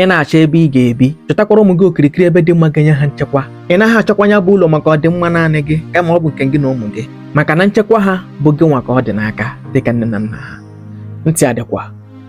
ị na-achọ ebe ị ga-ebi chọtakwara ụmụ gị okirikiri ebe dị mma ga-enye ha nchekwa ị naghị achọkwa ya bụ ụlọ maka ọdịmma naanị gị kama ọ bụ nke gị na ụmụ gị maka na nchekwa ha bụ gị nwa ka ọ dị n'aka dịka nne na nna ha ntị adịkwa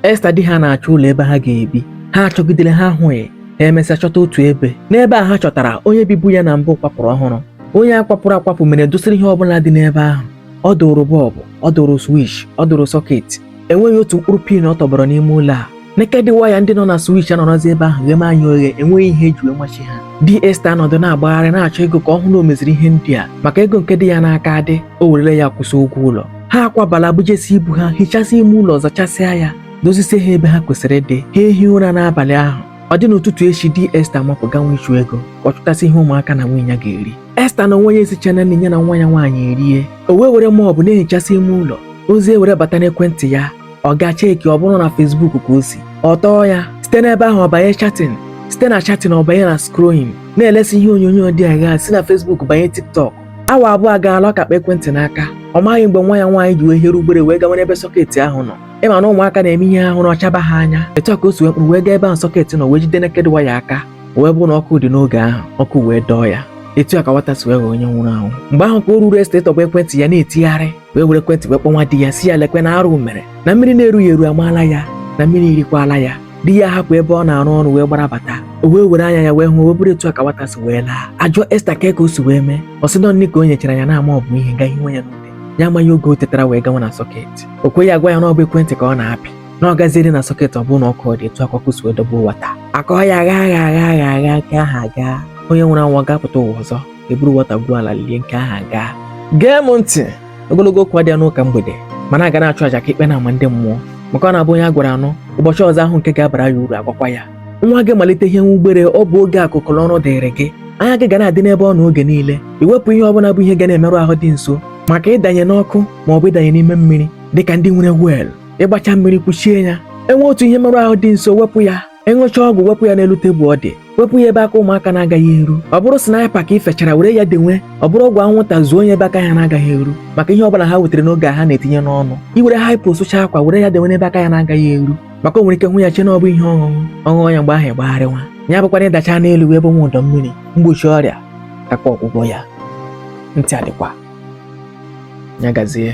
Esta di ha na-achọ ụlọ ebe ha ga-ebi ha achọgidere ha ahụghị ha emesịa chọta otu ebe n'ebe a ha chọtara onye bibu ya na mbụ kwapụrụ ọhụrụ onye a kwapụrụ akwapụ mere dọsịrị ihe ọbụla dị n'ebe ahụ ọ dụrụ bọlbụ ọ dụrụ switch ọ dụrụ sọketi enweghị otu mkpụrụ pin ọ tọgbọrọ n'ime ụlọ a naked wire ndị nọ na switch anọrọzi ebe ahụ gheme anya oghe enweghị ihe e ji wee machie ha di Esta anọdụ na-agbagharị na-achọ ego ka ọ hụ na o meziri ihe ndị a maka ego nke dị ya n'aka adị o werela ya kwụsị ụgwọ ụlọ ha akwabala bujesi ibu ha hichasị ime ụlọ zachasịa ya dozisie ha ebe ha kwesịrị ịdị ha ehi ụra n'abalị ahụ ọ dị n'ụtụtụ echi di Esta mapụ ganwe ịchụ ego ka ọ chụtasị ihe ụmụaka na nwunye ya ga-eri Esta n'onwe ya esichaa nri ya na nwa ya nwaanyị erie o wee were mop na-ehichasị ime ụlọ ozi ewere bata n'ekwentị ya ọ gaa check ọ bụrụ na Facebook ka o si ọ tọọ ya site n'ebe ahụ ọ banye chatting site na chatting ọ banye na scrolling na-elesi ihe onyonyo dị agha si na Facebook banye TikTok awa abụọ agaala ọ ka kpa ekwentị n'aka ọ maghị mgbe nwa ya nwaanyị ji wee here ugbere wee gawa n'ebe sọketi ahụ nọ ị ma na ụmụaka na-eme ihe ahụ na ọ chaba ha anya etu a ka o si wee kpụrụ wee gaa ebe ahụ sọketi nọ wee jide naked wire aka o wee bụrụ na ọkụ dị n'oge ahụ ọkụ wee dọọ ya etu a ka nwata si wee ghọọ onye nwụrụ anwụ mgbe ahụ ka o ruru Esta atọgbọ ekwentị ya na-etigharị wee were ekwentị wee kpọnwa di ya sị ya lekwe na arụ mere na mmiri na-erughị eru amaala ya na mmiri irikwala ya di ya hapụ ebe ọ na-arụ ọrụ wee gbara bata o wee were anya ya wee hụ o wee bụrụ etu a ka nwata si wee laa a jụọ Esta kee ka o si wee mee ọ sị na ọ nri ka o nyechara ya na-ama ọ bụ ihe gaghị nwe ya n'ute ya amaghị oge o tetara wee gawa na sọket o kweghị agwa ya na ọ bụ ekwentị ka ọ na-apị na ọ gaziere na sọket ọ bụrụ na ọkụ dị etu akụkọ si edobe ụwa taa akọ ya agha agha agha agha agha nke aha gaa onye nwụrụ anwụ ga-apụta ụwa ọzọ e buru nwata gwuo ala lie nke aha gaa gee m ntị ogologo okwu adịa n'ụka mgbede mana a ga na-achụ aja ka ikpe na-ama ndị mmụọ maka ọ na-abụ onye a gwara ọ nụ ụbọchị ọzọ a hụ nke ga-abara ya uru a gwakwa ya nwa gị malite ihe nwa ugbere ọ bụ oge ahụ ka ọrụ dịrị gị anya gị ga na-adị n'ebe ọ nọ oge niile iwepụ ihe ọbụla bụ ihe ga na-emerụ ahụ dị nso maka ịdanye n'ọkụ ma ọ bụ ịdanye n'ime mmiri dịka ndị nwere well ị gbachaa mmiri kpuchie ya e nwee otu ihe mmerụ ahụ dị nso wepụ ya ị ṅụchaa ọgwụ wepụ ya n'elu tebụl ọ dị wepụ ya ebe aka ụmụaka na-agaghị eru ọ bụrụ sniper ka ị fechara were ya denwe ọ bụrụ ọgwụ anwụnta zonye ebe aka ha na-agaghị eru maka ihe ọbụla ha nwetara n'oge a ha na-etinye n'ọnụ i were hypo sụchaa akwa were ya denwe n'ebe aka ya na-agaghị eru maka o nwere ike hụ ya chee na ọ bụ ihe ọṅụṅụ ọ ṅụọ ya mgbe ahụ ị gbagharịwa ya abụkwanụ ị dachaa n'elu wee bụnwa ụdọ mmiri mgbochi ọrịa kakwa ọgwụgwọ ya ntị adịkwa ya gazie